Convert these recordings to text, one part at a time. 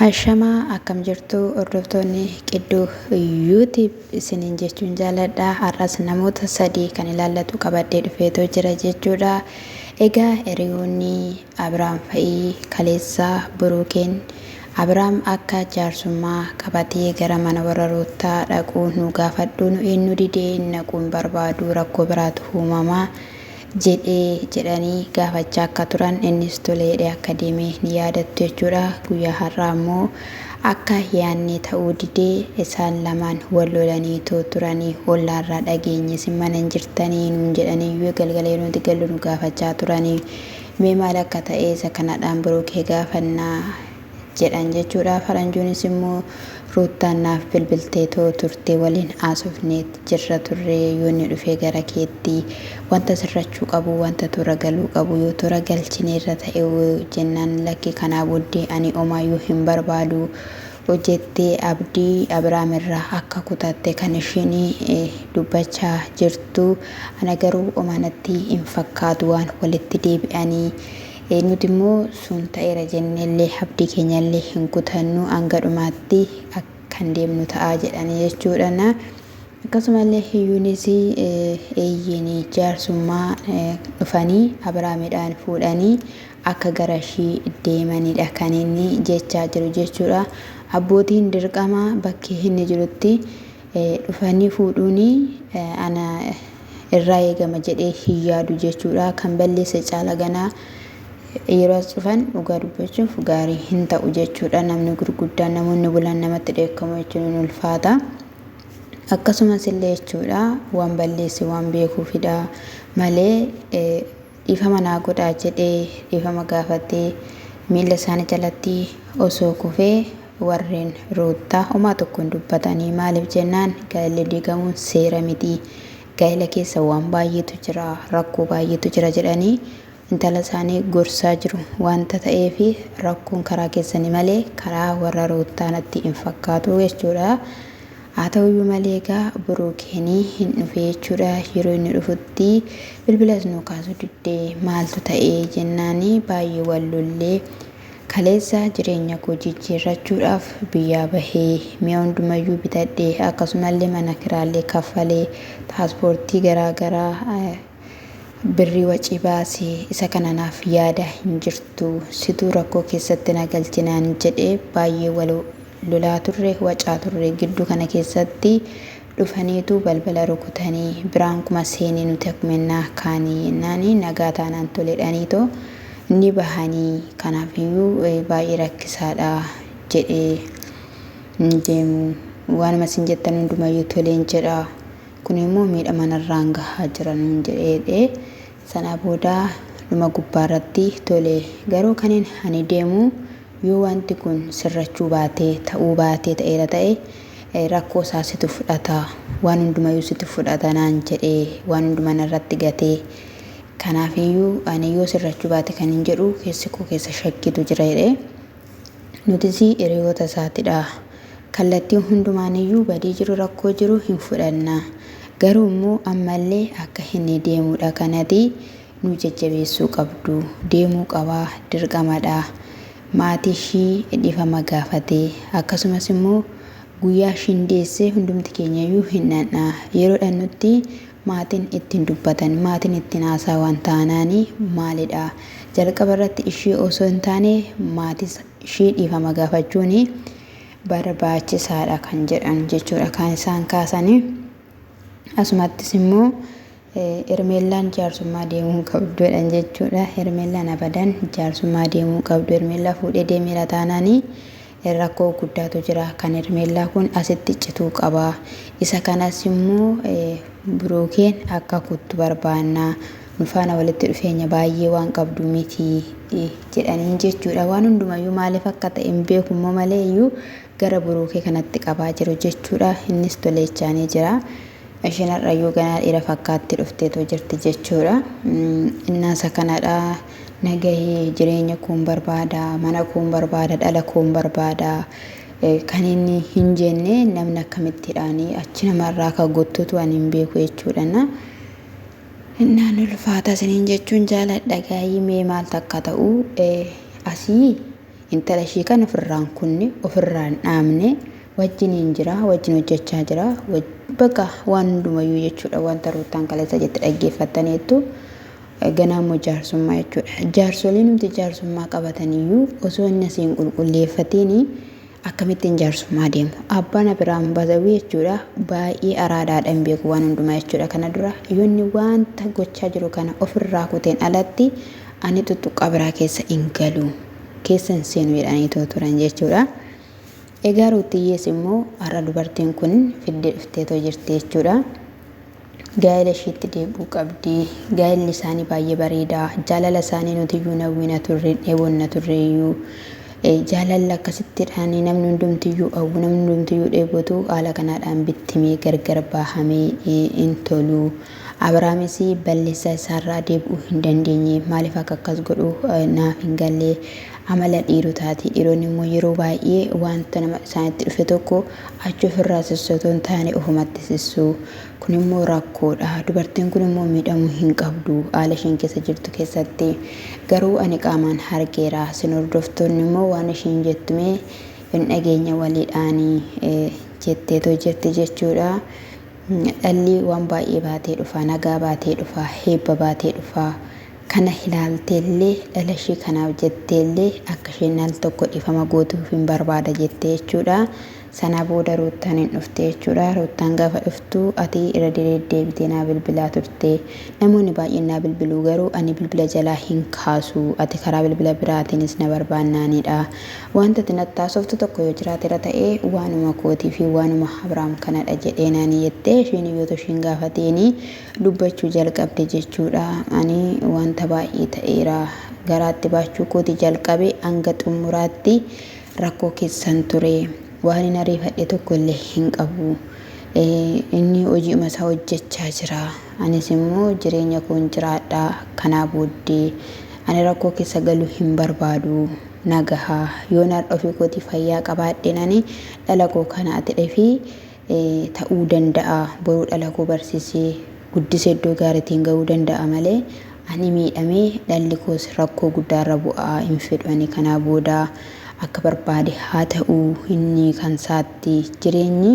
Ashama akkam jirtu hordoftoonni qiddu YouTube isiniin jechuun jaaladha har'as namoota sadii kan ilaallatu qabadhee dhufeetoo jira jechuudha egaa hiriyoonni Abiraam fa'ii kaleessa buruukeen Abiraam akka jaarsummaa qabatee gara mana warra ruuttaa dhaquu nu gaafadhuu nu eenyu didee naquu hin barbaadu rakkoo biraatu uumamaa jedhee? jedhanii gaafachaa akka turan innis tole jedhee akka deeme ni yaadattu jechuudha. Guyyaa har'aa ammoo akka yaannee ta'uu didee isaan lamaan wal lolaniitoo turanii ollaarraa dhageenye isin mana hin jirtanii nuun jedhanii yoo galgala yeroo nuti gallu nu gaafachaa turanii mee maal akka ta'e isa kanadhaan Biruukee gaafannaa jedhan jechuudha. Faranjuunis immoo Ruuttaan naaf bilbilteetoo turte waliin haasofneet jirra turre yoonni dhufee gara keetti wanta sirrachuu qabu wanta toora galuu qabu yoo toora galchineerra ta'e jennaan lakki kanaa booddee ani omaayyuu hin barbaadu jettee abdii Abiraam irraa akka kutatte kan isheen dubbachaa jirtu ana garuu omaanatti hin fakkaatu waan walitti deebi'anii Nuti immoo sun ta'eera jennee illee abdii keenya illee hin kutannu hanga dhumaatti kan deemnu ta'a jedhanii jechuudhaan akkasuma illee hiyyuunis eeyyiin jaarsummaa dhufanii Abiraamidhaan fuudhanii akka gara ishii deemanidha kan inni jechaa jiru jechuudha. Abbootiin dirqama bakkee inni jirutti dhufanii fuudhuun ana irraa eegama jedhee hin yaadu jechuudha. Kan balleesse caala ganaa yeroo as dhufan dhugaa dubbachuuf gaarii hin ta'u jechuudha. Namni gurguddaan namoonni bulan namatti dheekkamu jechuun hin ulfaata. Akkasumas illee jechuudha waan balleesse waan beekuufidha malee Dhiifama naa godhaa jedhee dhiifama gaafatee miilla isaanii jalatti osoo kufee warreen Ruuttaa homaa tokko hin dubbatanii maaliif jennaan gaa'illi diigamuun seera miti gaa'ila keessa waan baay'eetu jira rakkoo baay'eetu jira jedhanii intala isaanii gorsaa jiru wanta ta'eef rakkoon karaa keessanii malee karaa warra Ruuttaa natti hin fakkaatu jechuudha. Haa ta'u iyyuu malee egaa Buruukeen hin dhufe jechuudha. Yeroo inni dhufutti bilbilas nuu kaasuu didde maaltu ta'e jennaan baay'ee wal lollee kaleessa jireenya koo jijjiirrachuudhaaf biyyaa bahee mi'a hundumayyuu bitadhe akkasumallee mana kiraallee kaffalee paaspoortii garaa garaa Birrii wacii baasi isa kana naaf yaadaa hin jirtu situu rakkoo keessatti na galchi naan jedhee baay'ee wal lolaa turre wacaa turre giddu kana keessatti dhufaniitu balbala rukutanii biraan kuma seeni nuti akmennaa kaanii yennaani nagaa taanaan toledhaniitoo ni bahanii kanaafiyyuu baay'ee rakkisaadha jedhee hin deemu waanuma isin jettan hundumayyuu toleen jedha Kun immoo miidhama narraan gahaa jira nuun jedhee sanaa booda dhuma gubbaa irratti tole garuu kanin ani deemu yoo wanti kun sirrachuu baatee ta'uu baatee ta'eera ta'e rakkoo isaa situ fudhata waan hundumayyuu situ fudhata naan jedhee waan hundumaa narratti gatee kanaafiyyuu ani yoo sirrachuu baate kanin jedhu keessi koo keessa shakkiitu jira jedhee Nutisii hiriyoota isaatidha. Kallattii hundumaaniyyuu badii jiru rakkoo jiru hin fudhanna. Garuu immoo ammallee akka inni deemudha kanati nu jajjabeessuu qabdu. Deemuu qaba dirqamadha. Maatii ishii dhifama gaafate. Akkasumas immoo guyyaa ishiin deesse hundumti keenyayyuu hin dhanna. Yeroo dhannutti Maatiin ittiin dubbatan, maatiin ittiin haasaawan taanaan maalidha? Jalqaba irratti ishii osoo hin taane maatis ishii dhiifama gaafachuun barbaachisaadha kan jedhan jechuudha kan isaan kaasanii. Asumattis immoo Hermeellaan jaarsummaa deemuu hin qabdu jedhan jechuudha. Hermeellaan abadan jaarsummaa deemuu hin qabdu. Hermeellaa fuudhee deemeera taanaanii Rakkoo guddaatu jira. Kan Hermeellaa kun asitti cituu qaba. Isa kanas immoo Buruukeen akka kuttu barbaanna. Nu faana walitti dhufeenya baay'ee waan qabdu miti jedhaniin jechuudha. Waan hundumayyuu maaliif akka ta'e hin beeku immoo malee iyyuu gara Buruukee kanatti qabaa jiru jechuudha. Innis toleechaanii jira. Isheen har'ayyuu ganaa dhiira fakkaatti dhufteetoo jirti jechuudha. Innaasa kanadha. na gahe, jireenya koon barbaada, mana koon barbaada, dhala koon barbaada kan inni hin jenne namni akkamittidhaan achi namarraa akka guttutu ani hin beeku jechuudhana. Innaan ulfaata isiniin jechuun jaaladha gaayii mee maal takka ta'u asii intala ishii kan ofirraan kunne ofirraan dhaamne wajjiniin jira wajjin hojjechaa jira bakka waan hundumayyuu jechuudha wanta ruuttaan kaleessa jette dhaggeeffattaniittu. Ganaa immoo jaarsummaa jechuudha. Jaarsoliinumti jaarsummaa qabatan iyyuu osoo inni asii hin qulqulleeffatiin akkamittiin jaarsummaa deemu. Abbaan Abiraam Bazawii jechuudha baay'ee araadaadha hin beeku waan hundumaa jechuudha kana dura yoo inni wanta gochaa jiru kana ofirraa kuteen alatti ani tuttuqqaa biraa keessa hin galu keessa hin seenu jedhaniitoo turan jechuudha. Egaa ruuttiyyees immoo har'a dubartiin kun fiddee dhufteetoo jirti jechuudha. Gaa'ela ishiitti deebi'uu qabdi. Gaa'elli isaanii baay'ee bareeda. Jaalala isaanii nuti iyyuu hin hawwina turre, hin dheebonna turre iyyuu. Jaalalli akkasittidhaan namni hundumti iyyuu hawwu, namni hundumti iyyuu dheebotu haala kanaadhaan bittimee gargar baahamee hin tolu. Abrahaamis balleessaa isaarraa deebi'uu hin dandeenye. Maaliif akka akkas godhu naaf hin galle. Amala dhiirotaati. Dhiironni immoo yeroo baay'ee wanta nama isaanitti dhufe tokko achi ofirraa sissu otoo hin taane ofumatti sissu. Kun immoo rakkoodha. Dubartiin kun immoo miidhamuu hin qabdu haala isheen keessa jirtu keessatti. Garuu ani qaamaan hargeera. Isin hordoftoonni immoo waan isheen jettu mee hin dhageenya waliidhaani jetteetoo jirti jechuudha. Dhalli waan baay'ee baatee dhufa, nagaa baatee dhufa, heebba baatee dhufa. Kana ilaalteellee dhala ishee kanaaf jetteellee akka isheen al tokko dhiifama gootuufin barbaada jette jechuudha. Sana booda Ruuttaan hin dhufte jechuudha. Ruuttaan gaafa dhuftu ati irra deddeebitee naa bilbilaa turte. Namoonni baay'een naa bilbiluu garuu ani bilbila jalaa hin kaasu. Ati karaa bilbila biraatiinis na barbaannaanidha. Wanta ati natti haasoftu tokko yoo jiraatera ta'e waanuma kootii fi waanuma Abraam kanadha jedheenaani jettee isheen yoo toshiin gaafateeni dubbachuu jalqabde jechuudha. Ani wanta baay'ee ta'eera. Garaatti baachuu kooti jalqabe hanga xumuraatti Rakkoo keessan ture. Waanin ariifadhe tokkolle hin qabu. Inni hoji'uma isaa hojjachaa jira. Anis immoo jireenya koon jiraadha. Kanaa booddee ani rakkoo keessa galuu hin barbaadu. Na gaha. Yoon har'a ofii kootii fayyaa qabaadheen ani dhala koo kana atidhefii ta'uu danda'a boruu dhala koo barsisee guddise iddoo gaaritiin ga'uu danda'a malee ani miidhamee dhalli koos rakkoo guddaa irra bu'a hin fedhu ani kanaa booda akka barbaade haa ta'u inni kan saatti jireenyi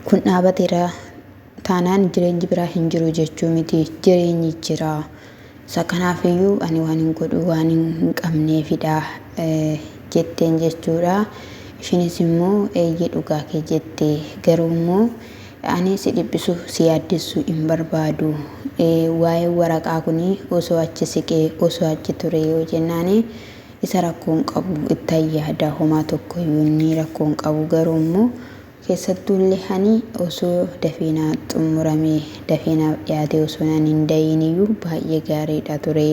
kun dhaabateera taanaan jireenyi biraa hin jiru jechuu miti. Jireenyi jira. Isa kanaafiyyuu ani waan hin godhu waan hin qabneefidha jetteen jechuudha. Ishiinis immoo eeyyee dhugaa kee jette. Garuu immoo ani si dhiphisu si yaaddessuu hin barbaadu. Waa'een waraqaa kun osoo achi siqee osoo achi ture yoo jennaan isa rakkoo hin qabu ittan yaada homaa tokkoyyuu inni rakkoo hin qabu garuu immoo Keessattuulle ani osoo dafee naa xummuramee, dafee naaf dhiyaatee osoo naan hin dahiiniyyuu baay'ee gaariidha ture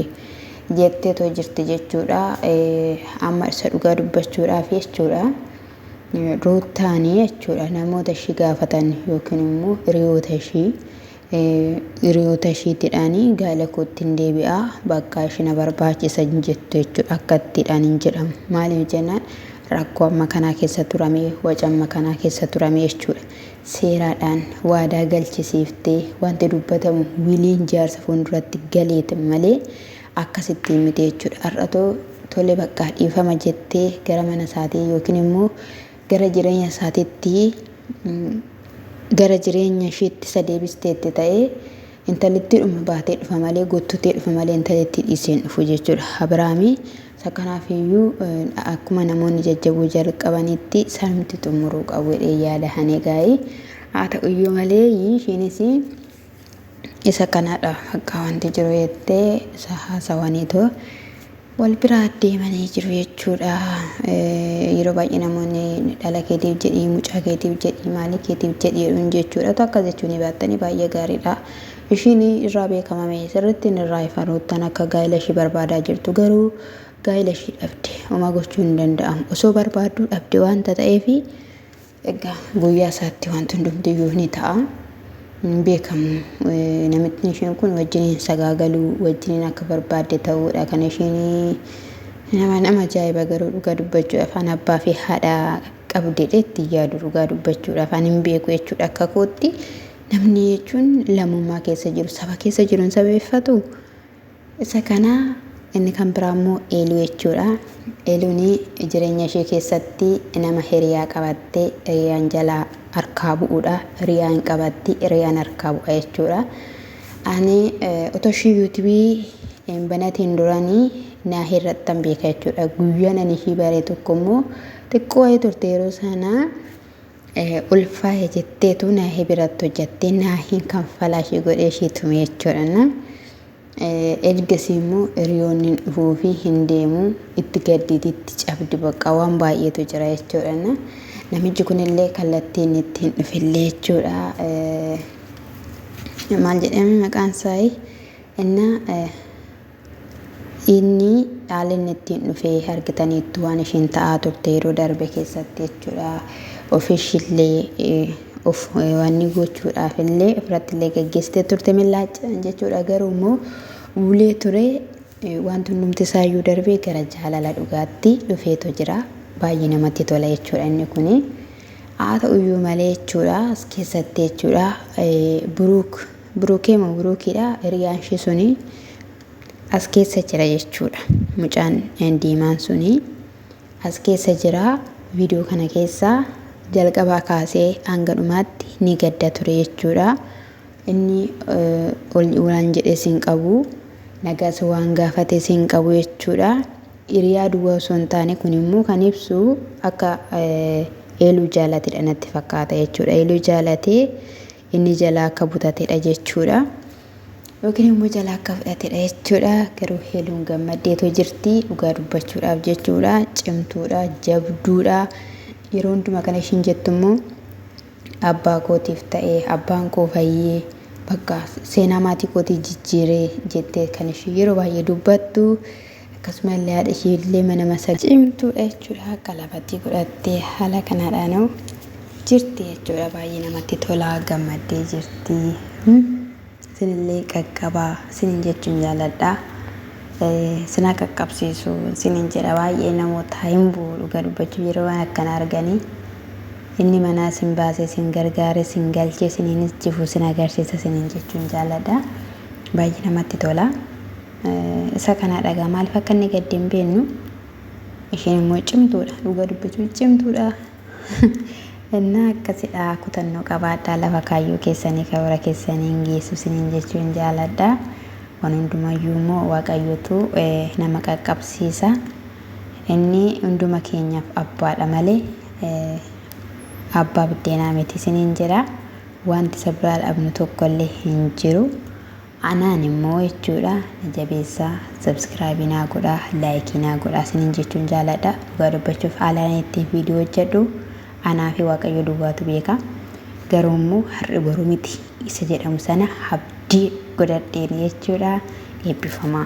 jetteetoo jirti jechuudha. Amma isa dhugaa dubbachuudhaaf jechuudha. Ruuttaanii jechuudha namoota ishii gaafatan yookiin immoo hiriyoota ishii Hiriyoota ishiitidhaani gaala koottin deebi'aa bakka ishi na barbaachisa hin jettu jechuudha akkattidhaan hin jedhamu. Maaliif jennaan rakkoo amma kanaa keessa turame waca amma kanaa keessa turame jechuudha. Seeraadhaan waadaa galchisiiftee wanti dubbatamu wiliin jaarsa fuulduratti galeet malee akkasittiin miti jechuudha. Har'atoo tole baqqaa dhiifama jettee gara mana isaatii yookiin immoo gara jireenya isaatiitti gara jireenya ishiitti isa deebisteetti ta'ee intalittiidhuma baatee dhufa malee guuttutee dhufa malee intalittii dhiisee hin dhufu jechuudha. Abiraami isa kanaaf iyyuu akkuma namoonni jajjabuu jalqabanitti sanumti xumuruu qabu jedhee yaada hanee gaa'ii haa ta'u iyyuu malee ishiinis Isa kanadha haqqaa wanti jiru jettee isa haasawaniitu wal biraa deemanii jiru jechuudha. Yeroo baay'ee namoonni dhala keetiif jedhii, mucaa keetiif jedhii, maalii keetiif jedhii jedhuun jechuudha. Otoo akkas jechuu ni baattanii baay'ee gaariidha. Ishiin irraa beekamame sirriitti inni irraa ifa ruuttan akka gaa'ila ishii barbaadaa jirtu garuu gaa'ila ishii dhabde homaa gochuu hin danda'amu. Osoo barbaadduu dhabde wanta ta'eefi Egaa guyyaa isaatti wanti hundumtiyyuu ni ta'a. Hin beekamu. Namittiin isheen kun wajjiniin sagaagaluu, wajjiniin akka barbaadde ta'uudha kan isheen nama nama ajaa'iba garuu dhugaa dubbachuudhaaf an abbaa fi haadha qabdedhe itti yaadu dhugaa dubbachuudhaaf an hin beeku jechuudha akka kootti. Namni jechuun lammummaa keessa jiru saba keessa jiru hin sabeeffatu. Isa kana inni kan biraa immoo Eeluu jechuudha. Eeluun jireenya ishee keessatti nama hiriyaa qabatte hiriyaan jalaa harkaa bu'uudha. Hiriyaa hin qabatti hiriyaan harkaa bu'a jechuudha. Ani otoo ishii yuutubii hin banatiin duranii naahii irrattan beeka jechuudha. Guyyaan ani ishii bare tokko immoo xiqqoo wayii turte yeroo sana ulfaahe jetteetu naahi biratti hojjattee naahiin kan falaa ishii godhee ishii tume jechuudha na ergasii immoo hiriyoonni hin dhufuu fi hin deemu itti gadditi itti cabdi baqqaa waan baay'eetu jira jechuudha na namichi kunillee kallattii inni itti hin dhufillee jechuudha maal jedhame maqaan isaa innaa Inni haala inni ittiin dhufe argitaniittu waan ishiin ta'aa turte yeroo darbe keessatti jechuudha. Ofiishillee of wanni gochuudhaaf illee ofirratti illee gaggeessitee turte millaachaan jechuudha. Garuu immoo ulee ture wanti hundumti isaayyuu darbee gara jaalala dhugaatti dhufeetu jira. Baay'ee namatti tola jechuudha inni kuni. Haa ta'uyyuu malee jechuudha as keessatti jechuudha Buruuk Burukee moo burukiidha hiriyaan ishee suni as keessa jira jechuudha. Mucaan diimaan suni as keessa jira viidiyoo kana keessa jalqabaa kaasee hanga dhumaatti ni gadda ture jechuudha. Inni ol waan jedhes hin qabu nagaas waan gaafates hin qabu jechuudha. Hiriyaa duwwaa osoo hin taane kun immoo kan ibsu akka eeluu jaalatedha natti fakkaata jechuudha. Eeluu jaalatee inni jalaa akka butatedha jechuudha. Yookiin immoo jalaa akka fudhatedha jechuudha. Garuu heeluun gammaddeetoo jirti dhugaa dubbachuudhaaf jechuudha. Cimtuudha, jabduudha. Yeroo hundumaa kana ishiin jettu immoo abbaa kootiif ta'ee abbaan koo fayyee bakka seenaa maatii kootii jijjiiree jettee kan ishii yeroo baay'ee dubbattu Akkasuma illee haadha ishii illee mana masagaa. Cimtuu dha jechuudha akka lafatii godhattee haala kanaadhaanoo jirti jechuudha baay'ee namatti tolaa gammaddee jirti. Isinillee qaqqabaa isinin jechuun jaaladha. Sinaa qaqqabsiisu isinin jedha baay'ee namoota hin bu'u dhuga dubbachuu yeroo waan akkana arganii. Inni manaa sin baasee sin gargaaree sin galchee siniinis jifu sin agarsiisa sinin jechuun jaaladha. Baay'ee namatti tolaa. isa kanadha egaa maaliif akka inni gadde hin beeknu isheen immoo cimtuudha dhuga dubbachuu cimtuudha innaa akkasidha kutannoo qabaadhaa lafa kaayyoo keessanii karoora keessanii hin geessu siniin jechuu hin jaaladha waan hundumayyuu immoo waaqayyootu nama qaqqabsiisa inni hunduma keenyaaf abbaadha malee abbaa biddeenaa miti siniin jedha wanti isa biraa dhabnu tokkollee hin jiru. Anaan immoo jechuudha na jabeessaa subscribe naa godhaa like naa godhaa sinin jechuun jaaladha dhugaa dubbachuuf haalaan ittiin viidiyoo hojjedhu anaa fi waaqayyo duwwaatu beeka garuu immoo har'i boru miti isa jedhamu sana abdii godhadheen jechuudha eebbifamaa.